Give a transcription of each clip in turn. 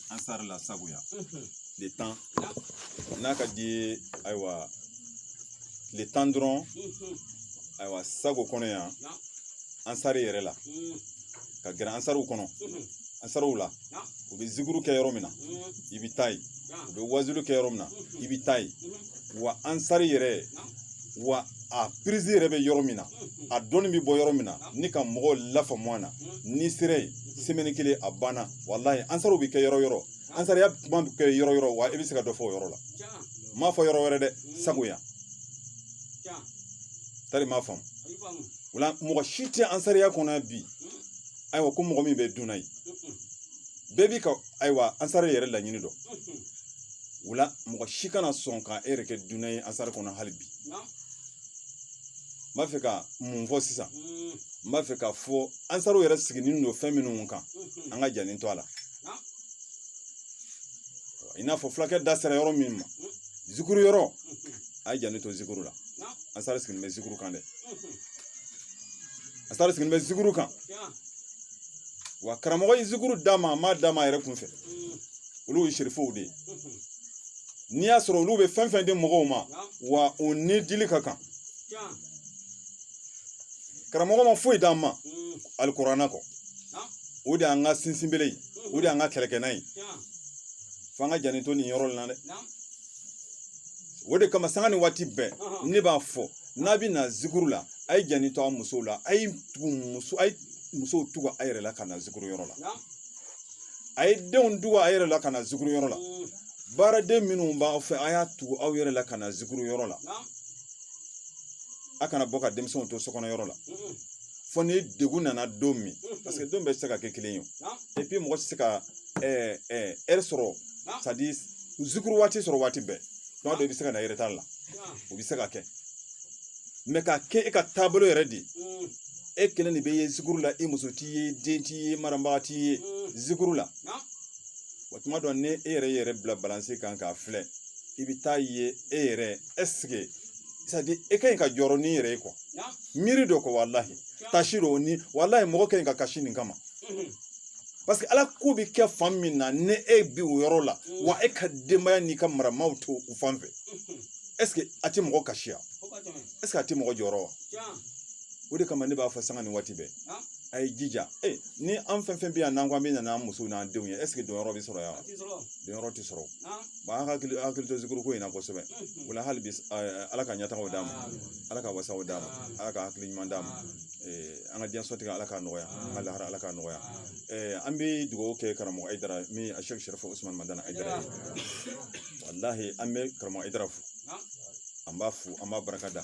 ansari la sagoya tile tan n'a ka di ye ayiwa tile tan dɔrɔn ayiwa sago kɔnɔ yan ansari yɛrɛ la ka gɛrɛ ansariw kɔnɔ ansariw la u bɛ zikuru kɛ yɔrɔ min na i bɛ taa yen u bɛ wazulu kɛ yɔrɔ min na i bɛ taa yen wa ansari yɛrɛ wa a pirizi yɛrɛ bɛ yɔrɔ min na a dɔnni bɛ bɔ yɔrɔ min na ni ka mɔgɔw lafaamu a na n'i sera yen semaine kelen a banna walayi ansariw bɛ kɛ yɔrɔ yɔrɔ ansariya kuma bɛ kɛ yɔrɔ yɔrɔ wa i bɛ se ka dɔ fɔ o yɔrɔ la n m'a fɔ yɔrɔ wɛrɛ dɛ sagoya tari m'a faamu o la mɔgɔ si tɛ ansariya kɔnɔ bi ayiwa ko mɔgɔ min bɛ dunan ye bɛɛ b'i ka ayiwa ansari yɛrɛ laɲini dɔn o la mɔgɔ si kana sɔn ka e yɛrɛ kɛ dunan ye ansari kɔnɔ hali bi n b'a fɛ ka mun fɔ sisan n b'a fɛ ka fɔ ansariw yɛrɛ sigilen don fɛn minnu kan an ka janni to a la i n'a fɔ fulakɛ da sera yɔrɔ min ma zikuru yɔrɔ a ye janni to zikuru la ansari sigilen bɛ zikuru kan dɛ ansari sigilen bɛ zikuru kan wa karamɔgɔ ye zikuru d'a ma a m'a d'a ma a yɛrɛ kun fɛ olu ye serifow de ye n'i y'a sɔrɔ olu bɛ fɛn fɛn di mɔgɔw ma wa o ni dili ka kan karamɔgɔ ma foyi d'an ma alikurana kɔ o de y'an ka sinsinbere ye o de y'an ka kɛlɛkɛnan ye f'an ka janni to nin yɔrɔ in na dɛ o de kama sanga ni waati bɛɛ ne b'a fɔ n'a bɛ na zikuru la a ye janni to a musow la a ye tugu muso a ye musow tugu a yɛrɛ la ka na zikuru yɔrɔ la a ye denw tugu a yɛrɛ la ka na zikuru yɔrɔ la baaraden minnu b'aw fɛ a y'a tugu aw yɛrɛ la ka na zikuru yɔrɔ la a kana bɔ ka denmisɛnw to sokɔnɔ yɔrɔ la fɔ ni degun nana don min parce que don bɛɛ tɛ se ka kɛ kelen ye et puis mɔgɔ tɛ se ka heure sɔrɔ c'est à dire zikuru waati sɔrɔ waati bɛɛ tuma dɔ i bɛ se ka na retard la o bɛ se ka kɛ mais ka kɛ e ka taabolo yɛrɛ de mm. e kelen de bɛ ye zikuru la i muso tɛ ye den tɛ ye marabaga tɛ ye mm. zikuru la wa tuma dɔ ni e y'i yɛrɛ bila balansi kan k'a filɛ i bɛ t'a ye e yɛrɛ est ce que c'est à dire e ka ɲi ka jɔrɔ n'i yɛrɛ ye quoi miiri dɔ kɔ walahi taasi dɔɔni walahi mɔgɔ ka ɲi ka kasi nin kama mm-hmm. parce que ala ko bɛ kɛ fan min na ni e bi o yɔrɔ la mm. wa e ka denbaya n'i ka maramaw t'o fan fɛ mm-hmm. est-ce que a tɛ mɔgɔ kasi wa est-ce que a tɛ mɔgɔ jɔrɔ wa o de kama ne b'a fɔ sanga ni waati bɛɛ a ye jija ni an fɛn fɛn bɛ yan n'an ko an bɛ na n'an musow n'an denw ye est-ce que donyɔrɔ bɛ sɔrɔ yan wa donyɔrɔ tɛ sɔrɔ wa an hakili hakili to zikuruko in na kosɛbɛ o la hali bi ala ka ɲɛtagaw d'a ma ala ka wasaw d'a ma ala ka hakili ɲuman d'a ma an ka diɲɛso tigɛ ala k'a nɔgɔya an ka lahara ala k'a nɔgɔya an bɛ dugawu kɛ karamɔgɔ ayidara min a sɛki sɛrifu usumani madani ayidara walahi an bɛ karamɔgɔ ayidara fo an b'a fo an b'a barika da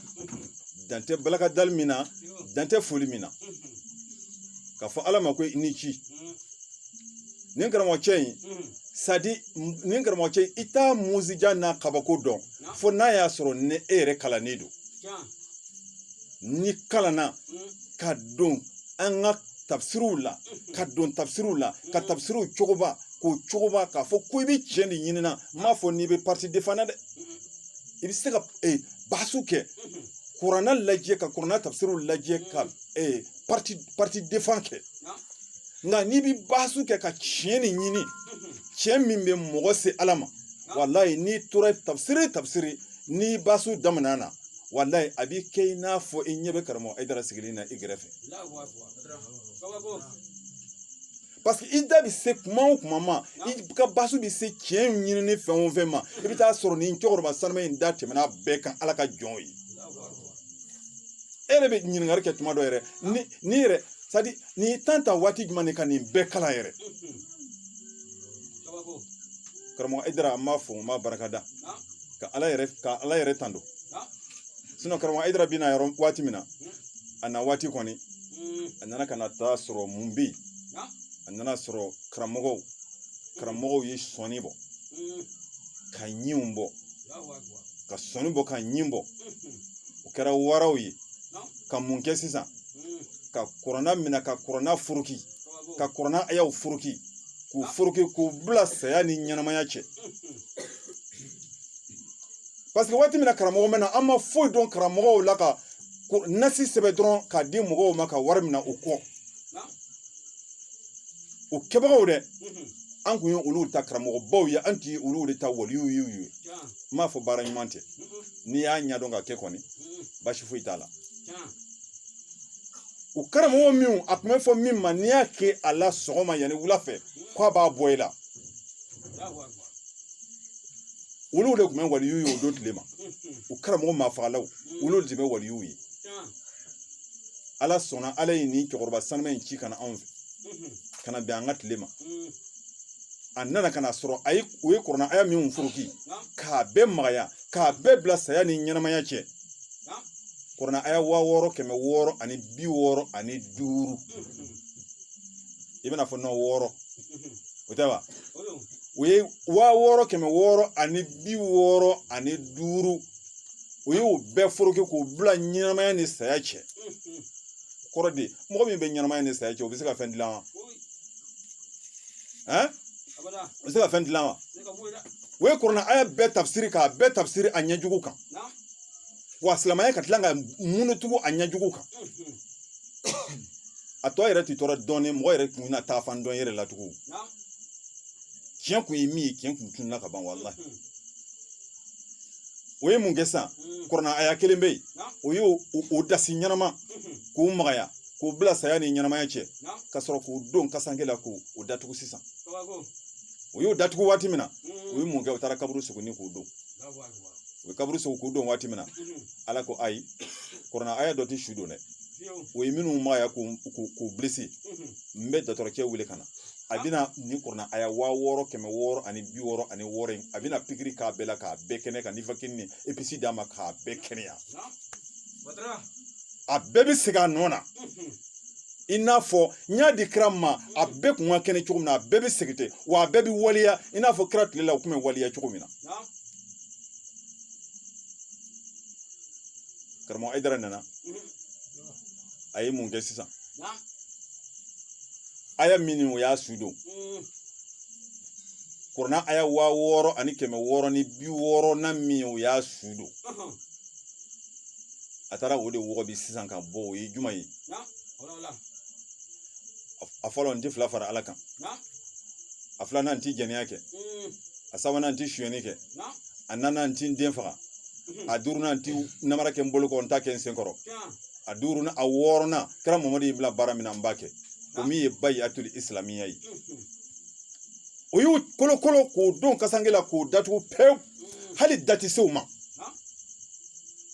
dan tɛ barikadali min na dan tɛ foli min na k'a fɔ ala ma ko i ni ci nin karamɔgɔ cɛ in c'est-à-dire nin karamɔgɔ cɛ in i t'a mujiza n'a kabako dɔn fo n'a y'a sɔrɔ ni e yɛrɛ kalannen don n'i kalanna ka don an ka tafsiriw la ka don tafsiriw la ka tafsiriw sɔgɔbɛ k'u sɔgɔbɛ k'a fɔ ko i bɛ tiɲɛ de ɲinina n m'a fɔ n'i bɛ parti defan na dɛ i bɛ se ka basu kɛ kurana lajɛ ka kurana tafsiriw lajɛ ka parti defan kɛ nka n'i bɛ basu kɛ ka tiɲɛ de ɲini tiɲɛ min bɛ mɔgɔ se ala ma walayi n'i tora tafsiri tafsiri ni basu daminɛ na walayi a b'i kɛ i n'a fɔ i ɲɛ bɛ karamɔgɔ ayidara sigilen na i gɛrɛfɛ parce que i da bɛ se kuma o kuma ma i ka basu bɛ se tiɲɛ ɲinini fɛn o fɛn ma i bɛ taa sɔrɔ nin cɛkɔrɔba sanuma in da tɛmɛna bɛɛ kan ala ka jɔn ye e yɛrɛ bɛ ɲininkali kɛ tuma dɔ yɛrɛ nin yɛrɛ c'est-à-dire nin tan ta waati jumɛn de ka nin bɛɛ kalan yɛrɛ karamɔgɔ ayidara an b'a fo an b'a barika da ka ala yɛrɛ tando sinon karamɔgɔ ayidara bɛ na yɔrɔ waati min na a na waati kɔni a nana ka na taa sɔrɔ mun bɛ yen a nana sɔrɔ karamɔgɔw karamɔgɔw ye sɔnni bɔ ka ɲinw bɔ ka sɔnni bɔ ka ɲin bɔ u kɛra waraw ye ka mun kɛ sisan ka kurana minɛ ka kurana foroki ka kurana ayaw foroki k'u foroki k'u bila saya ni ɲɛnamaya cɛ parce que waati min na karamɔgɔ ma na an ma foyi dɔn karamɔgɔw la ka nasi sɛbɛn dɔrɔn k'a di mɔgɔw ma ka wari minɛ u kun o kɛbagaw de an kun ye olu ta karamɔgɔbaw ye an tun ye olu de ta waliyuw ye n m'a fɔ baara ɲuman tɛ n'i y'a ɲɛdɔn k'a kɛ kɔni baasi foyi t'a la o karamɔgɔ min a tun bɛ fɔ min ma n'i y'a kɛ a la sɔgɔma yanni wula fɛ k'a b'a bɔ i la olu de tun bɛ waliyu ye o don tile ma u karamɔgɔ maafagalaw olu de bɛ waliyu ye ala sɔnna ala ye nin cɛkɔrɔba sanuma in ci ka na anw fɛ ka na bɛn an ka tile ma a nana ka na sɔrɔ o ye kurana aya min foroki k'a bɛɛ magaya k'a bɛɛ bila saya ni ɲɛnamaya cɛ kurana aya waa wɔɔrɔ kɛmɛ wɔɔrɔ ani bi wɔɔrɔ ani duuru i bɛna fɔ nɔ wɔɔrɔ o tɛ wa o ye waa wɔɔrɔ kɛmɛ wɔɔrɔ ani bi wɔɔrɔ ani duuru o ye o bɛɛ foroki k'o bila ɲɛnamaya ni saya cɛ kɔrɔ di mɔgɔ min bɛ ɲɛnamaya ni saya cɛ o bɛ se ka fɛn dilan wa ɛn o bɛ se ka fɛn dilan wa o ye kurana aya bɛɛ tafsiri k'a bɛɛ tafsiri a ɲɛ jugu kan wa silamɛya ka tila ka munutugu a ɲɛjugu kan a tɔ yɛrɛ tɛ tɔɔrɔ dɔɔnin mɔgɔ yɛrɛ tun na taa fan dɔn yɛrɛ la tugun tiɲɛ kun ye min ye tiɲɛ kun tununa ka ban walahi o ye mun kɛ sisan kurana aya kelen bɛ yen o y'o dasi ɲɛnama k'o magaya k'o bila saya ni ɲɛnamaya cɛ ka sɔrɔ k'o don kasanke la k'o datugu sisan o y'o datugu waati min na o ye mun kɛ o taara kaburu sogoni k'o don u bɛ kaburu sɔgɔ k'o don waati min na ala ko ayi kurana aya dɔ tɛ su don dɛ o ye minnu magaya k'u bilesi n bɛ dɔgɔtɔrɔcɛ wele ka na a bɛna nin kurana aya waa wɔɔrɔ kɛmɛ wɔɔrɔ ani bi wɔɔrɔ ani wɔɔrɔ in a bɛna pikiri k'a bɛɛ la k'a bɛɛ kɛnɛ ka nifakini ni episi d'a ma k'a bɛɛ kɛnɛya a bɛɛ bɛ segin a nɔ na i n'a fɔ n y'a di kira ma a bɛɛ kun ka kɛnɛ cogo min na a bɛɛ bɛ segin ten wa a bɛɛ bɛ waleya i n'a fɔ kira tile la u tun bɛ waleya cogo min na karamɔgɔ ayidara nana a ye mun kɛ sisan aya min o y'a su don kurana aya waa wɔɔrɔ ani kɛmɛ wɔɔrɔ ni bi wɔɔrɔ na min o y'a su don a taara o de wɔgɔbɛ sisan ka bɔ o ye jumɛn ye a fɔlɔ n tɛ fila fara ala kan a filanan n tɛ jɛnɛya kɛ a sabanan n tɛ sonyɛni kɛ a nanan n tɛ n den faga a duurunan n tɛ namara kɛ n bolo kɔ n t'a kɛ n sen kɔrɔ a duurunan a wɔɔrɔnan kira mamadu y'i bila baara min na n b'a kɛ o min ye bayiatuli isilamiya ye o y'u kolokolo k'o don kasange la k'o datugu pewu hali da tɛ se u ma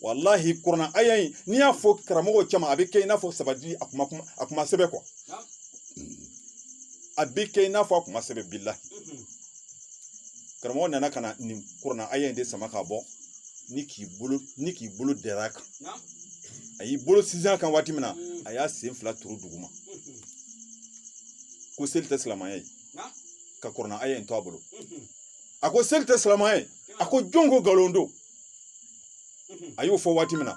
walahi kurana aya in n'i y'a fɔ karamɔgɔ caman a bɛ kɛ i n'a fɔ sabati a kuma a kuma sɛbɛ kuwa a bɛ kɛ i n'a fɔ a kuma sɛbɛ billahi karamɔgɔ nana ka na nin kurana aya in de sama ka bɔ ni k'i bolo dɛrɛ a kan a y'i bolo sinsin a kan waati min na a y'a sen fila turu duguma ko seli tɛ silamɛya ye ka kurana aya in to a bolo a ko seli tɛ silamɛya ye a ko jɔn ko nkalon don a y'o fɔ waati min na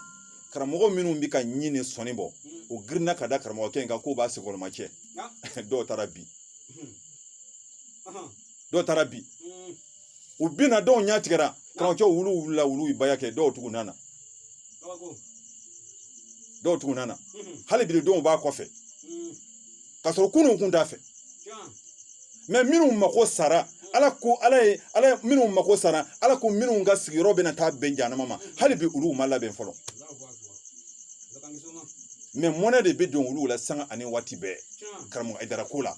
karamɔgɔ minnu bɛ ka ɲin ni sɔnin bɔ o girinna ka da karamɔgɔkɛ in kan k'o b'a senkɔrɔma cɛ dɔw taara bi u binna dɔw ɲɛ tigɛra karamɔgɔcɛw wulu wulila wulu ye baya kɛ dɔw tugu nana hali bi dɔw b'a kɔfɛ ka sɔrɔ ku ni kun t'a fɛ mɛ minnu mako sara ala ko minnu mako sara ala ko minnu ka sigiyɔrɔ bɛna taa bɛn janama ma hali bi olu ma labɛn fɔlɔ mɛ mɔnɛ de bɛ don olu la sanga ani waati bɛɛ karamɔgɔ Ayidara ko la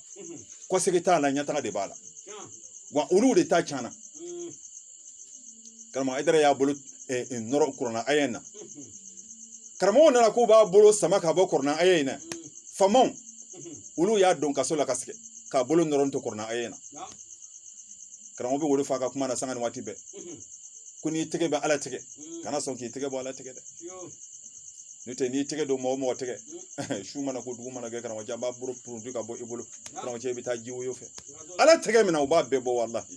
kɔsegin t'a la ɲɛtaga de b'a la wa olu de ta cana karamɔgɔ Ayidara y'a bolo nɔrɔ kurana aya in na karamɔgɔw nana k'u b'a bolo sama ka bɔ kurana aya in na faamaw olu y'a don kaso la ka sɛgɛn k'a bolo nɔrɔ to kurana aya in na karamɔgɔ b'o le fɔ a ka kuma na sanga ni waati bɛɛ ko n'i tɛgɛ bɛ ala tigɛ kana sɔn k'i tɛgɛ bɔ ala tigɛ dɛ n'o tɛ n'i tɛgɛ don mɔgɔ mɔgɔ tɛgɛ su mana ko dugu mana jɛ karamɔgɔcɛ a b'a bolo puruti ka bɔ i bolo karamɔgɔcɛ i bɛ taa ji woyo fɛ ala tɛgɛ minɛ o b'a bɛɛ bɔ walahi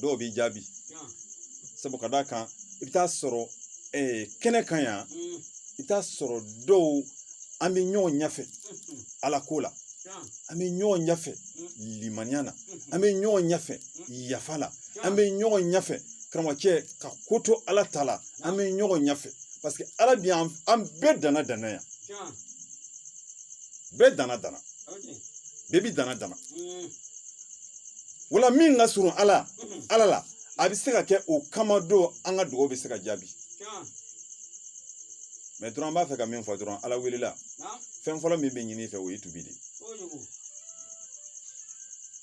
dɔw bɛ jaabi sabu ka d'a kan i bɛ taa sɔrɔ kɛnɛ kan yan i bɛ taa sɔrɔ dɔw an bɛ ɲɔgɔn ɲɛfɛ ala ko la an bɛ ɲɔgɔn ɲɛfɛ limaniya na an bɛ ɲɔgɔn ɲɛfɛ yafa la an bɛ ɲɔgɔn ɲɛfɛ karamɔgɔcɛ ka ko to ala ta la an bɛ ɲɔgɔn ɲɛfɛ parce que ala bi an bɛɛ danna danna yan bɛɛ dana dana bɛɛ bi dana dana wala min ka surun ala la a bɛ se ka kɛ o kama don an ka dugawu bɛ se ka jaabi mɛ dɔrɔn an b'a fɛ ka min fɔ dɔrɔn ala welela fɛn fɔlɔ min bɛ ɲini fɛ o ye tubi de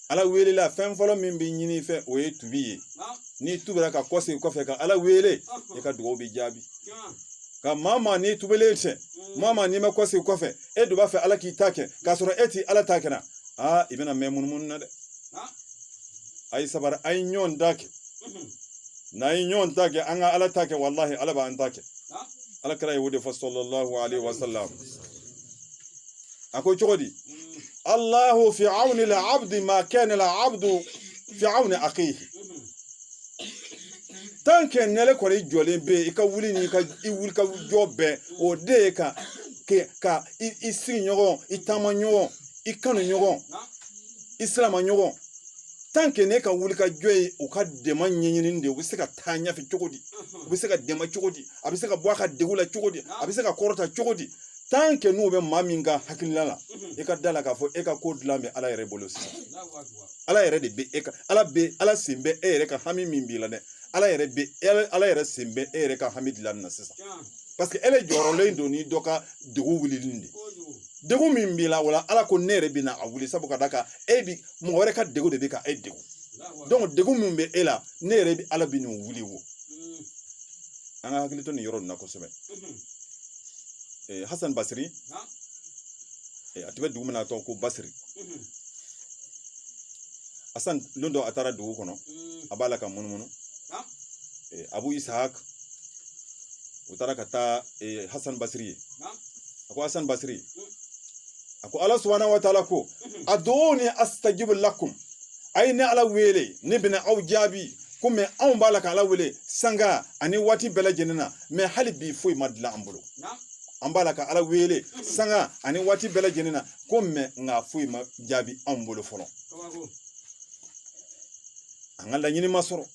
ala welela fɛn fɔlɔ min bɛ ɲini fɛ o ye tubi ye n'i tubira ka kɔsegin kɔfɛ ka ala wele i ka dugawu bɛ jaabi ka maa maa n'i tubilen tɛ maa maa n'i ma kɔsegin kɔfɛ e dun b'a fɛ ala k'i ta kɛ k'a sɔrɔ e ti ala ta kɛ la aa i bɛna mɛn munumunu na dɛ a ye sabari a ye ɲɔgɔn ta kɛ n'a ye ɲɔgɔn ta kɛ an ka ala ta kɛ walahi ala b'an ta kɛ ala kira ye o de fɔ sallallahu alayhi wa sallam a ko cogo di allahu fi awni al-abdi ma kana al-abdu fi awni akhihi tant que n'ele kɔni jɔlen bɛ yen i ka wuli ni i wuli ka jɔ bɛɛ o de ye ka ka i sigi ɲɔgɔn i taama ɲɔgɔn i kanu ɲɔgɔn i silama ɲɔgɔn tant que n'e ka wuli ka jɔ ye u ka dɛmɛ ɲɛɲini de u bɛ se ka taa ɲɛfɛ cogo di u bɛ se ka dɛmɛ cogo di a bɛ se ka bɔ a ka degun la cogo di a bɛ se ka kɔrɔta cogo di tant que n'i bɛ maa min ka hakilila la i ka da la k'a fɔ e ka ko dilan bɛ ala yɛrɛ bolo sisan ala yɛrɛ de bɛ e ka ala bɛ ala sen bɛ e yɛrɛ ka hami min b'i la dɛ ala yɛrɛ bɛ ala yɛrɛ sen bɛ e yɛrɛ ka hami dilan na sisan parce que ele jɔrɔlen don ni dɔ ka degun wulili de degun min b'i la wala ala ko ne yɛrɛ bɛ na a wuli sabu ka da kan e bi mɔgɔ wɛrɛ ka degun de bɛ ka e degun donc degun min bɛ e la ne yɛrɛ bɛ ala bɛ nin wuli wo an ka hakili to nin yɔrɔ nin na kosɛbɛ hasan basiri a tun bɛ dugu min na a tɔgɔ ko basiri hasan don dɔ a taara dugu kɔnɔ a b'a la ka munumunu abu ishaq u taara ka taa hasan basiri ye a ko hasan basiri a ko ala subahanahu wa taala ko ud'uni astajib lakum a ye ne ala wele ne bɛna aw jaabi ko mais anw b'a la ka ala wele sanga ani waati bɛɛ lajɛlen na mais hali bi foyi ma dilan an bolo an b'a la ka ala wele sanga ani waati bɛɛ lajɛlen na ko mais nka foyi ma jaabi anw bolo fɔlɔ an ka laɲini ma sɔrɔ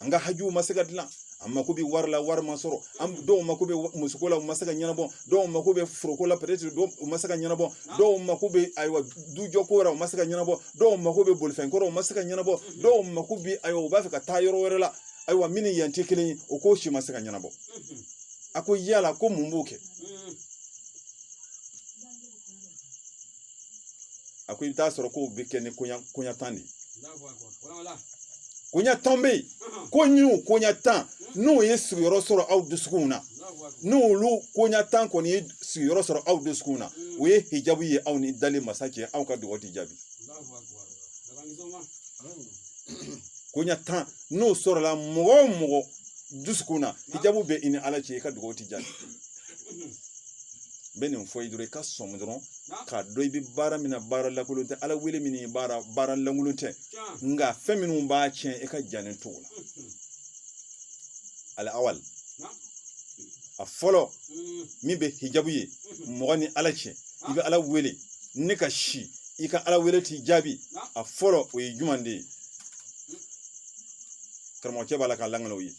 an ka hajuw ma se ka dilan an mako bɛ wari la wari ma sɔrɔ an dɔw mako bɛ musoko la u ma se ka ɲɛnabɔ dɔw mako bɛ foroko la peut-être dɔw u ma se ka ɲɛnabɔ dɔw mako bɛ ayiwa dujɔko wɛrɛ u ma se ka ɲɛnabɔ dɔw mako bɛ bolifɛnko rɔ u ma se ka ɲɛnabɔ dɔw mako bɛ ayiwa u b'a fɛ ka taa yɔrɔ wɛrɛ la ayiwa min ni yan tɛ kelen ye o ko si ma se ka ɲɛnabɔ a ko yala ko mun b'o kɛ a ko i bɛ taa sɔrɔ k'o bɛ kɛ ni koɲa koɲa tan de ye koɲa tan bɛ yen ko ni o koɲa tan n'o ye sigiyɔrɔ sɔrɔ aw dusukunw na n'olu koɲa tan kɔni ye sigiyɔrɔ sɔrɔ aw dusukunw na o ye hijabu ye aw ni dali masa cɛ aw ka dugawu ti jaabi koɲa tan n'o sɔrɔla mɔgɔ o mɔgɔ dusukun na hijabu bɛ i ni ala cɛ i ka dugawu ti jaabi n bɛ nin fɔ i ye dɔrɔn i ka sɔmi dɔrɔn k'a dɔn i bɛ baara min na baara lankolon tɛ ala wele min baara lankolon tɛ nka fɛn minnu b'a tiɲɛ i k'i janto o la al awali a fɔlɔ min bɛ hijabu ye mɔgɔ ni ala cɛ i bɛ ala wele ni kasi i ka ala wele ti jaabi a fɔlɔ o ye jumɛn de ye karamɔgɔcɛ b'a la k'a lanana o ye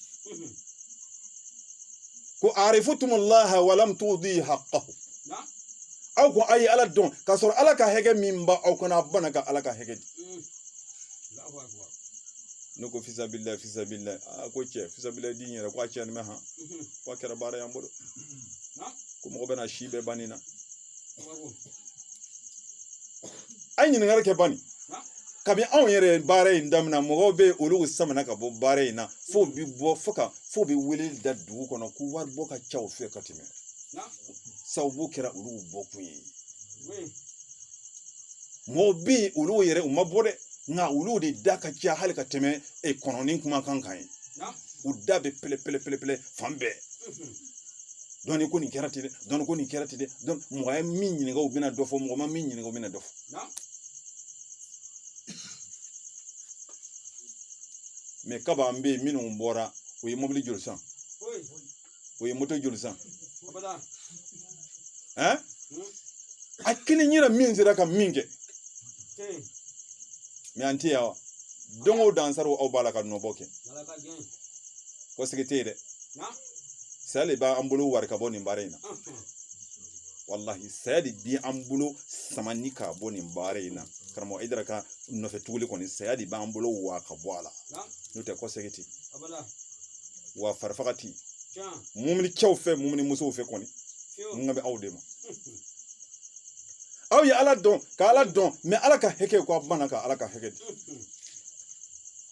ko arifutum Allah wa lam tudi haqqahu aw ko a ye ala dɔn k'a sɔrɔ ala ka hakɛ min ba aw kan a bana ka ala ka hakɛ di mm. ne ko fisabila fisabila a ko cɛ fisabila di yɛrɛ ko a cɛ nin bɛ han mm-hmm. ko a kɛra baara y'an bolo ko mɔgɔ bɛna si bɛɛ ban nin na a ye ɲininkali kɛ bani kabi anw yɛrɛ baara in daminɛ mɔgɔw bɛ olu samana ka bɔ baara in na fo u bi wele da dugu kɔnɔ ko wari bɔ ka ca u fɛ ka tɛmɛ sababu kɛra olu bɔkun ye mɔgɔw bɛ yen olu yɛrɛ u ma bɔ dɛ nka olu de da ka ca hali ka tɛmɛ kɔnɔni kumakan kan ye u da bɛ pɛlɛ pɛlɛ pɛlɛ pɛlɛ fan bɛɛ dɔnni ko nin kɛra ten dɛ dɔnni ko nin kɛra ten dɛ mɔgɔ ye min ɲininka u bɛna dɔ fɔ mɔgɔ ma min ɲininka u bɛna dɔ fɔ mais kaba an bɛ yen minnu bɔra o ye mobili joli san o ye moto joli san ɛn a kelen yira min sera ka min kɛ mais an tɛ yan wa don o don Ansar aw b'a la ka nɔbɔ kɛ ko sigi tɛ yen dɛ saya de b'an bolo wari ka bɔ nin baara in na walahi saya de bi an bolo samani ka bɔ nin baara in na karamɔgɔ Hayidara ka nɔfɛ tuguli kɔni saya de b'an bolo wa ka bɔ a la n'o tɛ ko sɛgɛn tɛ wa farifaga tɛ mumuni cɛw fɛ mumuni musow fɛ kɔni n kan bɛ aw de ma aw ye ala dɔn ka ala dɔn mais ala ka hakɛ ko a bana ka ala ka hakɛ di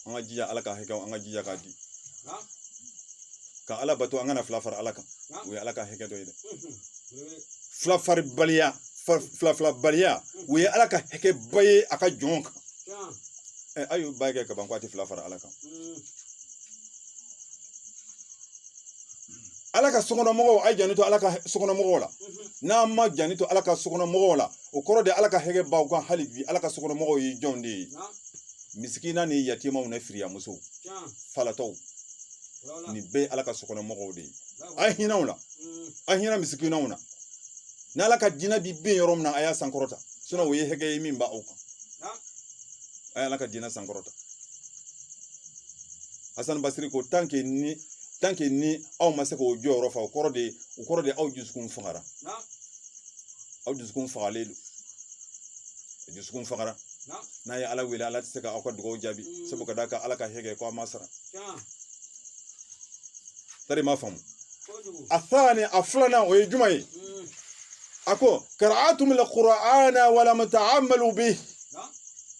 an ka jija ala ka hakɛ an ka jija k'a di ka ala bato an kana fila fara ala kan o ye ala ka hakɛ dɔ ye dɛ fila farabaliya o ye ala ka hakɛ ba ye a ka jɔn kan ɛ a y'o ba kɛ kaban ko a tɛ fila fara ala kan ala ka sokɔnɔmɔgɔw a janto ala ka sokɔnɔmɔgɔw la n'an ma janto ala ka sokɔnɔmɔgɔw la o kɔrɔ de ala ka hakɛ b'aw kan hali bi ala ka sokɔnɔmɔgɔw ye jɔnw de ye misikina ni yatimaw ni firiyamusow falatɔw nin bɛɛ ye ala ka sokɔnɔmɔgɔw de ye a hinɛ u la a hinɛ misikinaw na ni ala ka diinɛ bi bin yɔrɔ min na a y'a sankɔrɔta o ye hakɛ ye min b'aw kan a ye ala ka diinɛ sankɔrɔta Hasan Basiri ko tant que ni aw ma se k'o jɔyɔrɔ fa o kɔrɔ de aw dusukun fagara aw dusukun fagalen don dusukun fagara n'a ye ala wele ala tɛ se ka aw ka dugawu jaabi mm. sabu ka d'a kan ala ka hakɛ ko a ma sara tari ma faamu a thani a filanan o ye juma ye mm. a ko qara'atum alqur'ana wa lam ta'amalu bih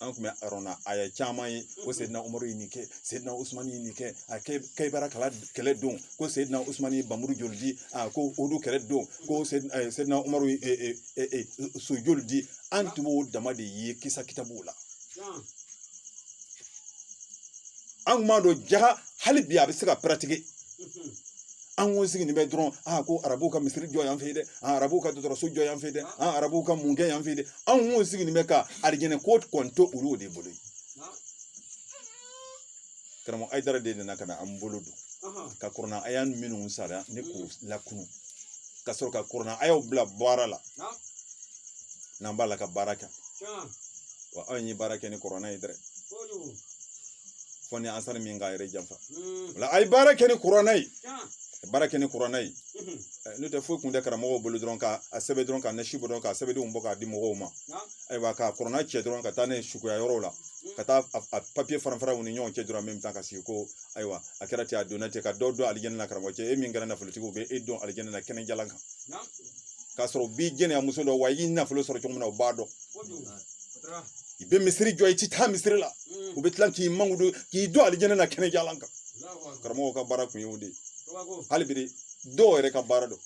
an kun bɛ kuranna aya caman ye ko seyidina umaru ye nin kɛ seyidina usumani ye nin kɛ a kayibara kɛlɛ don ko seyidina usumani ye bamuru joli di ko uhudu kɛlɛ don ko seyidina umaru ye so joli di an tun b'o dama de ye kisa kitabuw la an kun m'a dɔn jaga hali bi a bɛ se ka paratike an kun sigilen bɛ dɔrɔn ko arabuw ka misiri jɔ yan fɛ yen dɛ arabuw ka dɔgɔtɔrɔso jɔ yan fɛ yen dɛ arabuw ka mun kɛ yan fɛ yen dɛ anw kun sigilen bɛ ka alijinɛ ko kɔni to olu de bolo karamɔgɔ ayidara de nana ka na an bolo don ka kuranna aya minnu sara ni k'u lakunu ka sɔrɔ ka kuranna ayaw bila baara la n'an b'a la ka baara kɛ wa anw ye baara kɛ ni kuranna ye dɛ fo ni ansari min k'a yɛrɛ janfa hmm. o la a ye baara kɛ ni kuranɛ ye baara kɛ ni kuranɛ ye hmm. eh, n'o tɛ foyi kun tɛ karamɔgɔw bolo dɔrɔn k'a sɛbɛn dɔrɔn ka nasi bɔ dɔrɔn ka sɛbɛndenw bɔ k'a di mɔgɔw ma ayiwa ka kuranɛ cɛ dɔrɔn ka taa nisɔngoya yɔrɔw la hmm. ka taa a papiye fara fara u ni ɲɔgɔn cɛ dɔrɔn min tan ka sigi ko ayiwa a kɛra ten a donna ten ka dɔ don alijɛnɛ na karamɔgɔ cɛ e min kɛra nafolotigi u bɛ e don alijɛnɛ na kɛnɛjalan kan k'a sɔrɔ u b'i jɛnɛya muso dɔn wa i y'i nafolo sɔrɔ cogo min na u b'a dɔn i bɛ misiri jɔ i ti taa misiri la u bɛ tila k'i mankutu k'i don alijɛnɛ na kɛnɛjalan kan karamɔgɔw ka baara kun ye o de ye hali bi dɔw yɛrɛ ka baara don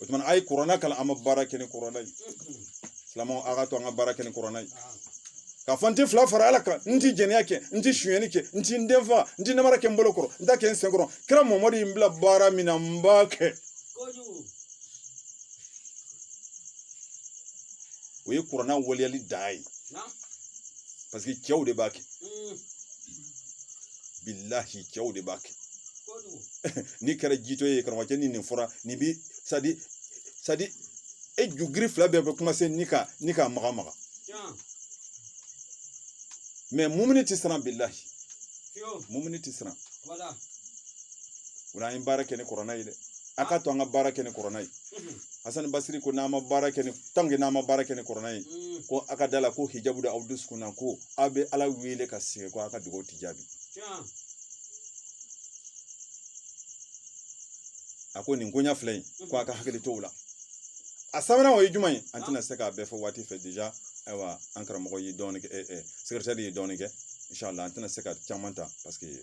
o tuma an ye kuranna kalan an ma baara kɛ ni kuranna ye silamɛw a k'a to an ka baara kɛ ni kuranna ye k'a fɔ n tɛ fila fara ala kan n tɛ jɛnɛya kɛ n tɛ sonyɛni kɛ n tɛ n den fa n tɛ namara kɛ n bolo kɔrɔ n t'a kɛ n sen kɔrɔ kira mamadu ye n bila baara min na n b'a kɛ o ye kuranna waleyali dan ye paseke cɛw de b'a kɛ mm. bilahi cɛw de b'a kɛ n'i kɛra jitɔ ye karamɔgɔcɛ ni nin fɔra nin bi sadi sadi e jugiri fila bɛɛ bɛ kumanse ni ka maga maga mɛ mumini tɛ siran bilahi mumini tɛ siran o la an ye baara kɛ ni kuranna ye dɛ a k'a to an ka baara kɛ ni kuranna ye hasani basiri ko n'an ma baara kɛ ni tanke n'an ma baara kɛ ni kuranna ye ko a ka da la ko hijabu da aw dusukun na ko aw bɛ ala wele ka sigi ko a ka dugawu ti jaabi a ko nin koɲa fila in ko a ka hakili to o la a sabanan o ye jumɛn ye an tɛna se k'a bɛɛ fɔ waati fɛ deja ayiwa an karamɔgɔ ye dɔɔnin kɛ sekeretɛri ye dɔɔnin kɛ inshallah an tɛna se ka caman ta paseke